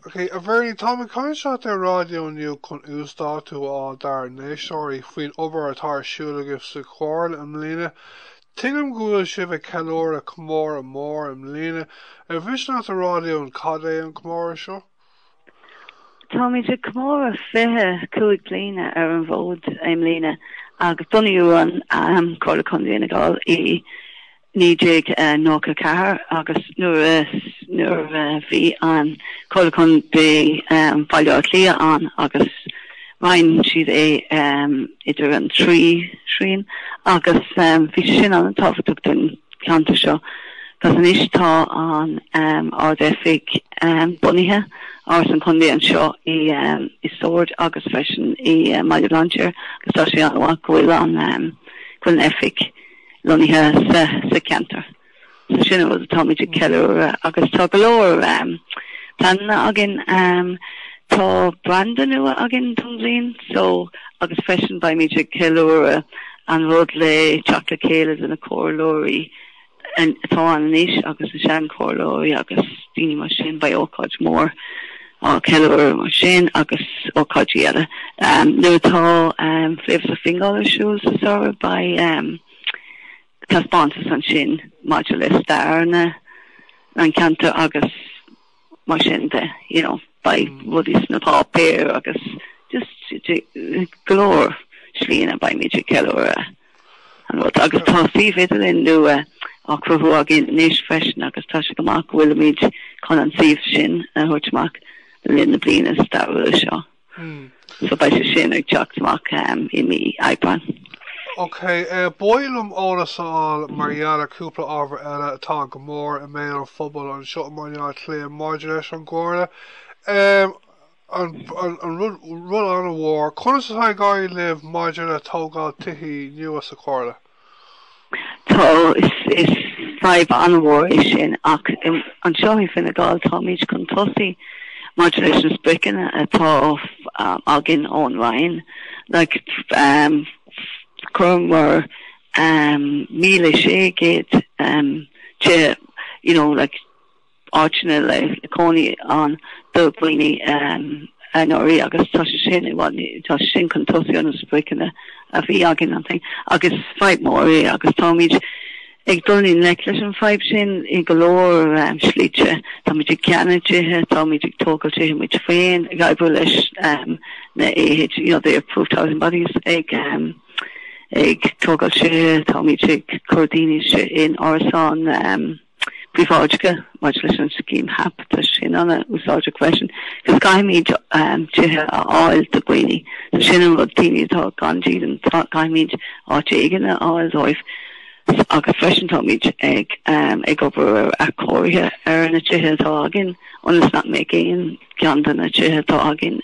Ok, a Bhernie, táim ag caint leat ar raidió inniu chun uasdátú a fháil dár n-éisteoirí faoin obair atá ar siúl agaibh sa Chomhairle i mbliana. Tuigim go bhfuil sibh ag ceiliúradh comóradh mór i mbliana. Ar mhiste leat a rá linn cad é an comóradh seo? Táimid ag comóradh fiche cúig bliana ar an bhfód i mbliana agus bunaíodh an Comhairle Contae Fhine Gall i 1994 agus nuair a nuair a bhí an Comhairle Contae Bhaile Átha Cliath ann agus roinn siad é idir an trí thrian agus bhí sé sin an-tábhachtach don cheantar seo agus anois tá an Ard-Oifig bunaithe Áras an Chontae anseo i i Sord agus freisin i mBaile Bhlainséir agus tá sé an-mhaith go bhfuil an go bhfuil an Oifig lonnaithe sa cheantar. So sin an rud atáimid ag ceiliúradh agus tá go leor pleananna againn. Tá branda nua againn don bhliain seo agus freisin beimid ag ceiliúradh an rud le teacht le chéile de na comhairleoirí atá ann anois agus na sean-chomhairleoirí agus daoine mar sin, beidh ócáid mhór. á ceiliúradh mar sin agus ócáidí eile. Nuair atá Flavours of Fingal ar siúl sa samhradh beidh taispeántas ansin maidir le stair an cheantair agus mar sin de. You know, beidh rudaí sna páipéir agus just go leor slíanna beimid ag ceiliúradh. Agus tá suíomh idirlín nua á cruthú againn anois freisin agus tá sé go maith go bhfuilimid chun an suíomh sin a thabhairt amach le linn na bliana stairiúla seo. So beidh sé sin ag teacht amach i mí Aibreáin. Ok, ba mhaith liom eolas a fháil mar gheall ar chúpla ábhar eile atá go mór i mbéal an phobail anseo i mBaile Átha Cliath maidir leis an gComhairle. An rud an-mhór. Conas atá ag éirí libh maidir le tógáil tithe nua sa Chomhairle? Tá, is fadhb an-mhór é sin ach anseo i Fine Gall táimid chun tosaigh maidir leis na spriocanna atá againn ón Roinn. Chuireamar míle sé chéad de, you know, like, áiteanna le cónaí ann do dhaoine anuraidh agus tá sé sin i bhfad ní, tá sé sin chun tosaigh ó na spriocanna a bhí againn ansin agus fadhb mhór í agus táimid ag dul i ngleic leis an bhfadhb sin i go leor slite. Táimid ag ceannach tithe, táimid ag tógáil tithe muid féin, ag oibriú leis na AH, you know, the approved housing bodies, ag ag tógáil tithe, táimid ag cur daoine in árasáin. príobháideacha maidir leis an scéim HAP tá sin arna úsáid freisin, agus caithfimid tithe a fháil do dhaoine. So sin an rud, daoine atá gan dídean, caithfimid áit éigin a fháil dóibh. Agus freisin táimid ag obair ar athchóirithe ar na tithe atá againn ionas nach mbeidh aon ceann de na tithe atá againn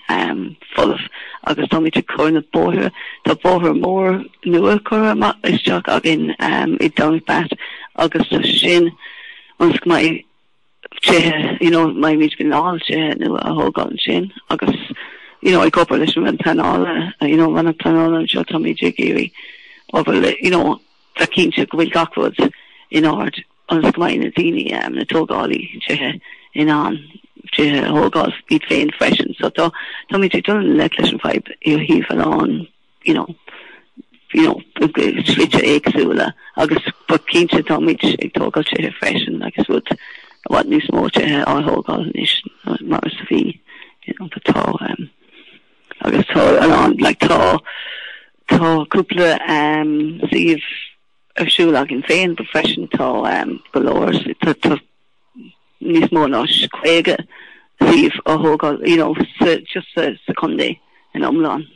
folamh agus táimid ag cur na bóithre. Tá bóthar mór nua curtha amach isteach againn i Domhnach Bat agus tá sé sin ionas go mbeidh tithe, you know, mbeimid in ann tithe nua a thógáil ansin agus, you know, ag obair leis an Roinn Pleanála, you know, Roinn an Pleanála anseo táimid ag iarraidh obair le, you know, bheith cinnte go bhfuil gach rud in ard. ionas go mbeidh na daoine, na tógálaí tithe in ann tithe a thógáil iad féin freisin. So tá, táimid ag dul i ngleic leis an bhfadhb ó thaobh an lán, you know, you know, slite éagsúla agus but cinnte táimid ag tógáil tithe freisin agus tá i bhfad níos mó tithe á thógáil anois ná mar is a bhí, you know, but tá, um, agus tá an, like, tá, tá cúpla, um, suíomh, ar siúl againn féin freisin. Tá go leor, níos mó ná 50 suíomh á thógáil you know just sa chontae in iomlán.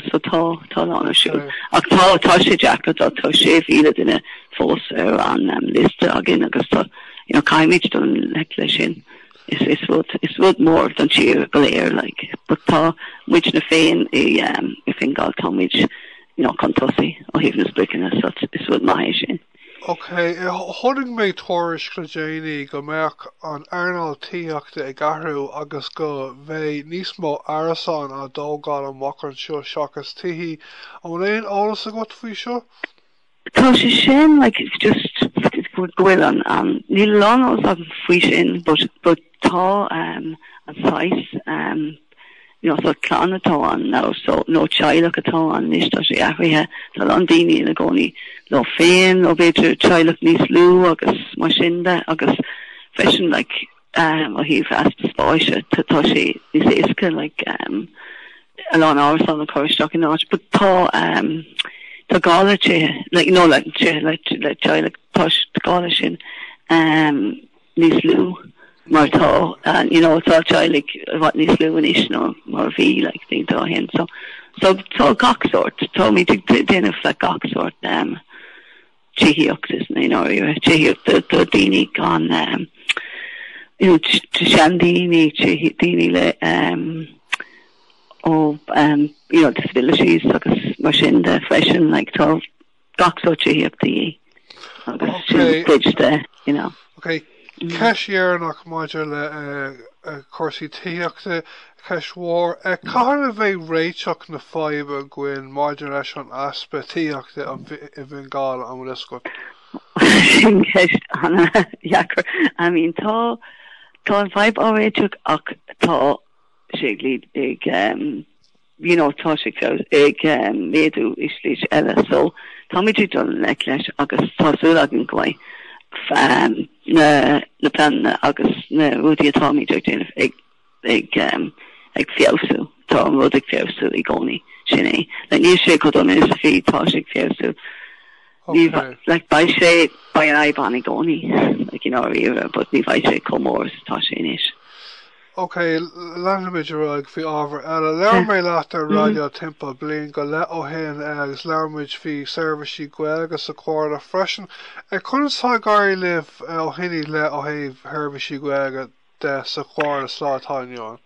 So tá a lán ar siúl. Ach tá sé deacair, tá 6,000 duine fós ar an liosta againn agus tá you know caithfimid dul i ngleic leis sin. Is rud is rud mór don tír go léir like but tá muidne féin i Fingal tá muid you know chun tosaigh ó thaobh na spriocanna so is rud maith é sin. Ok, chonaic mé tuairisc le déanaí go mbeadh an earnáil tithíochta ag athrú agus go mbeidh níos mó árasán á dtógáil amach anseo seachas tithí. An bhfuil aon eolas agat faoi seo? Tá sé sin like it's just it's go bhfuil an an níl a lán eolas agam faoi sin but but tá ehm an saghas ehm you know sort of clann atá ann now so nó teaghlach atá ann anois tá sé athraithe tá a lán daoine ina gcónaí leo féin nó b'fhéidir teaghlach níos lú agus mar sin de agus freisin like ó thaobh easpa spáise tá sé níos éasca like a lán árasán a chur isteach in áit but tá tá gá le tithe like you know le tithe le le teaghlaigh but tá gá le sin níos lú mar tá you know tá teaghlaigh i bhfad níos lú anois ná mar a bhí like bhí tá athrú ann so so tá gach sórt táimid ag déileáil le gach sórt tithíocht is mé ná ríomhaire tithíocht do do daoine gan you know do seandaoine do daoine le um ó um you know disabilities agus mar sin de freisin like tá gach sórt tithíocht de dhíth agus sin cuid de you know. Okay. Ceist dheireanach maidir le cúrsaí tithíochta, ceist mhór. Cathain a bheidh réiteach na faidhbe againn maidir leis an easpa tithíochta i bhFine Gall an bhfuil fhios agat? Sin ceist ana-dheacair. I mean tá tá an fhadhb á réiteach ach tá sé ag ag ehm. you know, tá sé ag feabhsú, ag méadú i slite eile so táimid ag dul i ngleic leis agus tá súil againn go mbeidh na pleananna agus na rudaí atáimid ag déanamh ag ag ag feabhsú. Tá an rud ag feabhsú i gcónaí, sin é. Like níl sé chomh dona is a bhí, tá sé ag feabhsú. Ní like beidh sé beidh an fhadhb ann i gcónaí like you know dáiríre but ní bheidh sé chomh mór is atá sé anois. Ok, leanfaimid ar aghaidh faoi ábhar eile. Labhair mé leat ar raidió timpeall bliain go leith ó shin agus labhair muid faoi seirbhísí Gaeilge sa Chomhairle freisin. Conas atá ag éirí libh ó shin i leith ó thaobh sheirbhísí Gaeilge de sa Chomhairle sa lá atá inniu ann.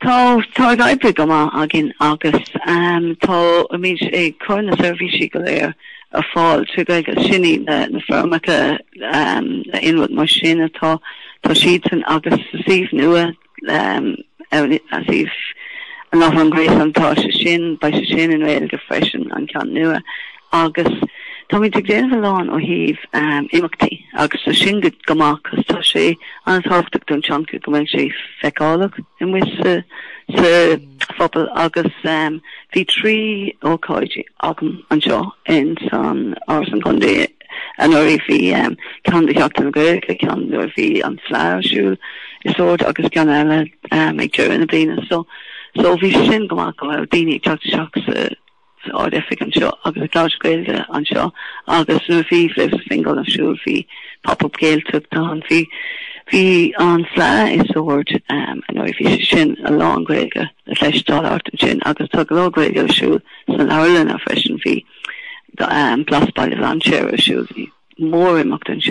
Tá tá ag oibriú go maith againn agus táimid ag cur na seirbhísí go léir ar fáil trí Ghaeilge is sin é le na foirmeacha le aon rud mar sin atá tá siadsan agus sa suíomh nua ar an suíomh an láithreán gréasáin tá sé sin beidh sé sin i nGaeilge freisin an ceann nua. Agus táimid ag déanamh a lán ó thaobh imeachtaí agus tá sin go maith cos tá sé an-tábhachtach don teanga go mbeidh sé feiceálach amuigh sa phobal agus bhí trí ócáid agam anseo in san Áras an Chontae anuraidh. Bhí ceann do Sheachtain na Gaeilge, ceann nuair a bhí an Fleadh ar siúl i Sord agus ceann eile ag deireadh na bliana so bhí sin go maith go bhfuil daoine ag teacht isteach sa san Ard-Oifig anseo agus ag labhairt Gaeilge anseo agus nuair a bhí Flavours of Fingal ar siúl bhí Pop Up Gaeltacht ann. Bhí bhí an Fleadh i Sord anuraidh, bhí sé sin a lán Gaeilge le cloisteáil thart ansin agus tá go leor Gaeilge ar siúl sna leabharlanna freisin. Bhí Blas Baile Bhlainséir ar siúl, bhí mórimeacht ar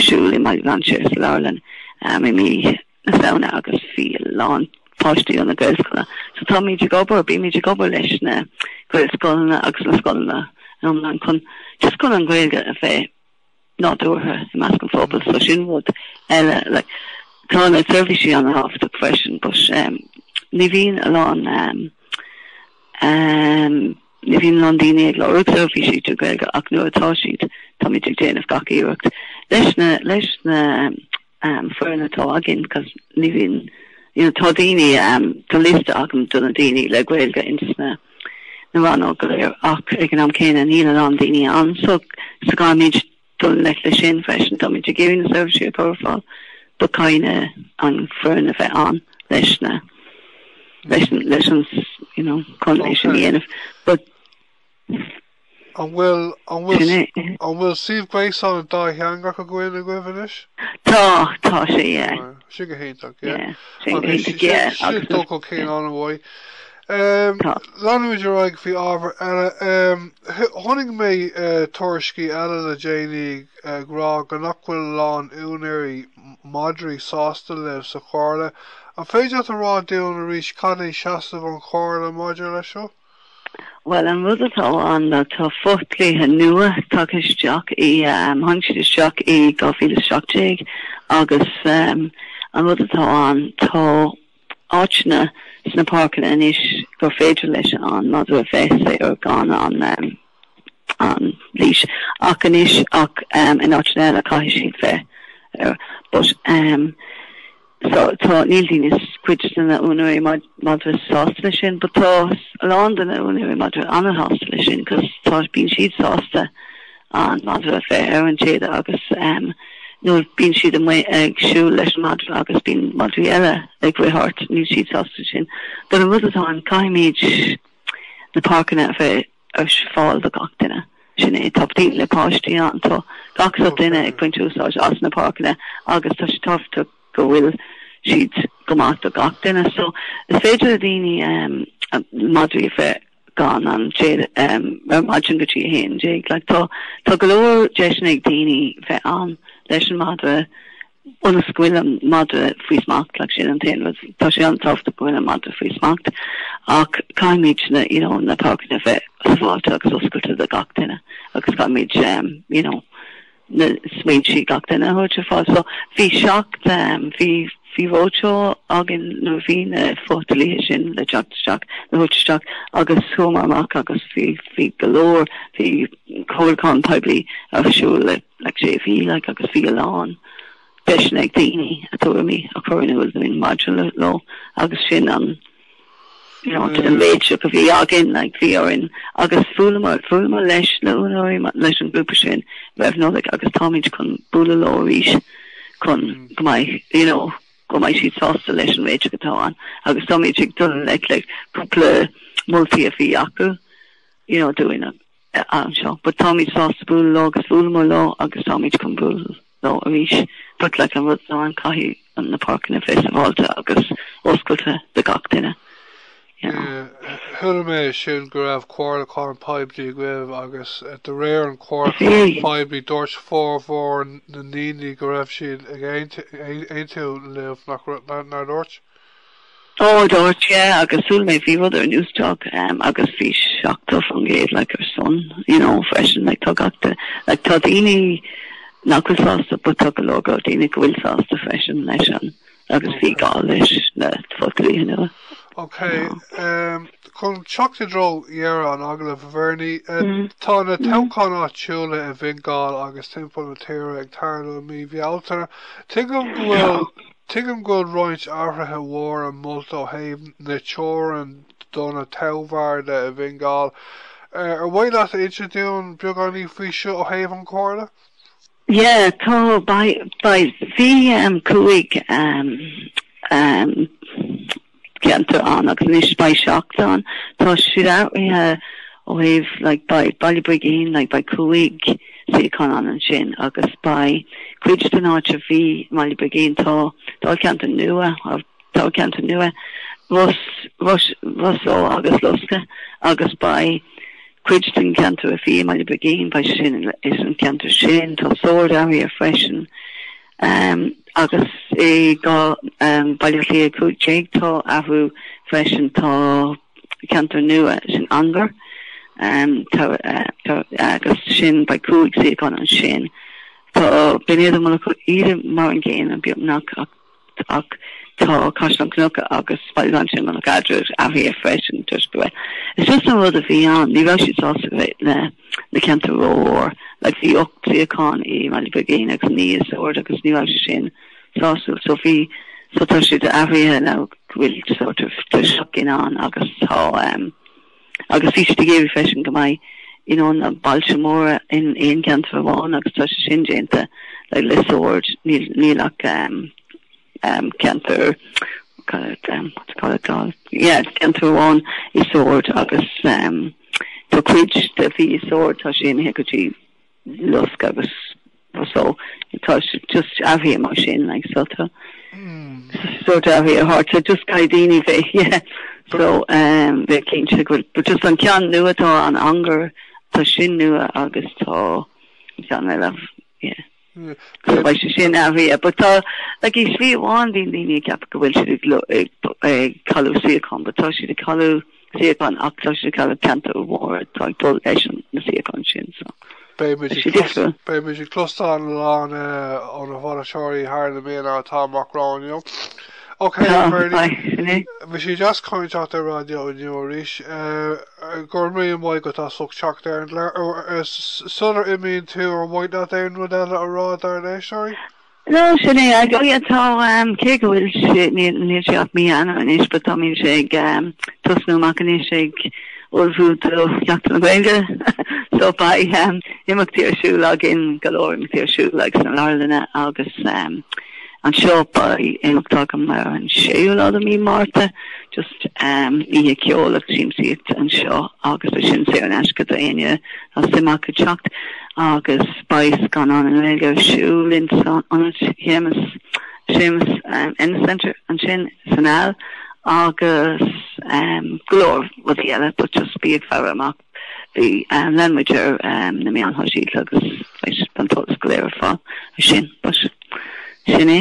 siúl i mBaile Bhlainséir sa leabharlann i mí na Samhna agus bhí a lán páistí ó na Gaelscoileanna. So táimid ag obair, bímid ag obair leis na Gaelscoileanna agus na scoileanna iomlán chun just chun an Ghaeilge a bheith nádúrtha i measc an phobail. So sin rud eile. Like tá na seirbhísí an-tábhachtach freisin but ehm ní bhíonn a lán ehm ehm ní bhíonn a lán daoine ag lorg seirbhísí trí Ghaeilge ach nuair atá siad táimid ag déanamh gach iarracht leis na leis na foireann atá againn cos ní bhíonn you know tá daoine tá liosta agam do na daoine le Gaeilge ins na na rannóg go léir ach ag an am céanna níl a lán daoine ann so so caithfimid dul leis le sin freisin táimid ag iarraidh na seirbhísí a chur ar fáil but caithfidh an foireann a bheith ann leis na leis leis an you know translation a dhéanamh but An bhfuil, an bhfuil, an bhfuil suíomh gréasáin dátheangach againn agaibh anois? Tá, tá sé, yeah. Sin go hiontach, yeah. Yeah, sin go hiontach, yeah. Sin, sin dul chun cinn an-mhaith. Tá. Leanfaimid ar aghaidh faoi ábhar eile. Chonaic mé tuairiscí eile le déanaí ag rá go nach bhfuil a lán úinéirí madraí sásta libh sa Chomhairle. An féidir leat a rá dúinn arís cad é seasamh an Chomhairle maidir leis seo? Bhuel, an rud atá ann ná tá fo-dhlíthe nua tagtha isteach, thángthas isteach i 2017 agus an rud atá ann, tá áiteanna sna páirceanna anois gur féidir leis an madra bheith saor gan an an leash ach anois ach in áiteanna eile caithfidh siad bheith ar but ehm so tá níl daoine cuid de na úinéirí madra sásta leis sin but tá a lán de na úinéirí madra an-sásta leis sin cos tá bíonn siad sásta an madra a bheith ar an téad agus ehm nuair a bíonn siad amuigh ag siúl leis an madra agus bíonn madraí eile ag rith thart níl siad sásta leis sin but an rud atá ann caithfimid na páirceanna a bheith ar fáil do gach duine. Sin é, tá daoine le páistí ann, tá gach sort duine ag baint úsáid as na páirceanna agus tá sé tábhachtach go bhfuil siad go maith do gach duine. So is féidir le daoine madraí a bheith gan an téad ar maidin go dtí a haon déag. Like tá go leor deiseanna ag daoine bheith ann leis an madra. Ionas go bhfuil an madra faoi smacht, like, sin an t-aon rud. Tá sé an-tábhachtach go bhfuil an madra faoi smacht, ach caithfimid na, you know, na páirceanna a bheith sábháilte agus oscailte do gach duine agus caithfimid, you know, na smaointe gach duine a thabhairt ar fáil. So, bhí seacht, bhí, bhí roadshow againn, nuair a bhí na fo-dhlíthe sin le teacht isteach, le thabhairt isteach, agus chuamar amach agus bhí, bhí go leor, bhí, comhairliúchán poiblí ar siúl le sé mhí agus bhí a lán deiseanna ag daoine a tuairimí a chur in iúl dúinn maidir leo agus sin an réiteach a bhí againn. Bhí orainn agus bhuaileamar leis na úinéirí leis an ghrúpa sin roimh Nollaig agus táimid chun bualadh leo arís chun go mbeidh siad sásta leis an réiteach atá ann agus táimid ag dul le cúpla moltaí a bhí acu. you know, don am seo but táimid sásta bualadh leo agus bhuaileamar leo agus táimid chun bualadh leo arís but like an rud ann caithfidh na páirceanna a bheith sábháilte agus oscailte do gach duine, you know. Chuala mé sin go raibh comhairliúchán poiblí agaibh agus de réir an chomhairliúcháin phoiblí dúirt formhór na ndaoine go raibh siad ag aontú libh, nár dúirt? Ó dúirt, yeah, agus shíl mé bhí rud ar Newstalk agus bhí 70% like ar son, you know, freisin, like tá gach duine, like tá daoine nach bhfuil sásta but tá go leor go leor daoine go bhfuil sásta freisin leis an agus bhí gá leis na fodhlíthe nua. Ok, chun teacht i dtreo dheireadh an agallaimh, Bernie, tá na toghcháin áitiúla i bhFine Gall agus timpeall na tíre ag tarlú i mí Bhealtaine. Tuigim go bhfuil Tuigim go bhfuil roinnt athruithe mhóra molta ó thaobh na teorann do na toghbharda i bhFine Gall. Ar mhaith leat insint dúinn beagáinín faoi seo ó thaobh an Chomhairle? Yeah, tá, beidh, beidh, bhí cúig, ceantar ann agus anois beidh seacht ann. Tá siad athraithe ó thaobh like beidh Baile Brigín like beidh cúig suíochán ann ansin agus beidh cuid den áit a bhí i mBaile Brigín tá ceantar nua tá ceantar nua Ros Ros Ros Eo agus Lusca agus beidh cuid den cheantar a bhí i mBaile Brigín beidh sin is an ceantar sin tá Sord athraithe freisin. Agus i gCo. Bhaile Átha Cliath 15 tá athrú freisin, tá ceantar nua sin Ongar agus sin beidh cúig suíochán ansin. Tá Binn Éadair Mullach Íde mar an gcéanna beagnach ach tá Caisleán Cnucha agus Baile Bhlainséir Mullach Eadrad athraithe freisin toisc go bhfuil. It's just an rud a bhí ann, ní raibh siad sásta go bhféadfadh na. na ceantair rómhór. Like bhí ocht suíochán i mBaile Brigín agus naoi i Sord agus ní raibh sé sin sásúil so bhí so tá sé de athraithe now go bhfuil sort of dhá shuíochán ann agus tá um agus bhí siad ag iarraidh freisin go mbeidh you know na bailte móra in aon ceantar amháin agus tá sé sin déanta like le Sord níl níl ach um ceantar amháin i Sord agus tá cuid de bhí i Sord tá sé imithe go dtí Lusk agus so tá sé just athraithe mar sin like so tá sort of athraithe thart so just caithfidh daoine bheith yeah so bheith cinnte go bhfuil but just an ceann nua tá an angar tá sin nua agus tá ceann eile yeah. Go bhfuil sé sin athraithe yeah but tá like i slí amháin bíonn daoine ag ceapadh go bhfuil siad ag ag ag cailleadh suíochán but tá siad ag cailleadh suíochán ach tá siad ag cailleadh ceantair mhóra atá ag dul leis an na suíocháin sin so Beidh muid ag sé clos difriúil. beidh muid ag closteáil a lán eh, ó na bainisteoirí thar na míonna atá amach romhainn inniu. Ok Bernie, bhí sé deas caint leat ar Raidió inniu arís. Go raibh míle maith agat as ucht teacht ar an aer. Sular imíonn tú ar mhaith leat aon rud eile a rá dár n-éisteoirí? Nó sin é, Is dóigh tá, cé go bhfuil sé, níl sé ach mí Eanáir anois, but tá mise ag tosnú amach anois ag ullmhú do Sheachtain na Gaeilge, so beidh imeachtaí ar siúl againn, go leor imeachtaí ar siúl ag sna leabharlanna agus. Anseo beidh imeacht agam ar an séú lá de mí Márta, just oíche ceoil agus siamsaíocht anseo agus tá sin saor in aisce do éinne atá suim acu teacht agus beidh scannán i nGaeilge ar siúl in san ionad Shéamus, Seamus Ennis Centre ansin san Aill agus go leor rudaí eile but just bí ag faire amach. Bí lean muid ar na meáin shóisialta agus beidh an t-eolas go léir ar fáil ar sin. But sin é.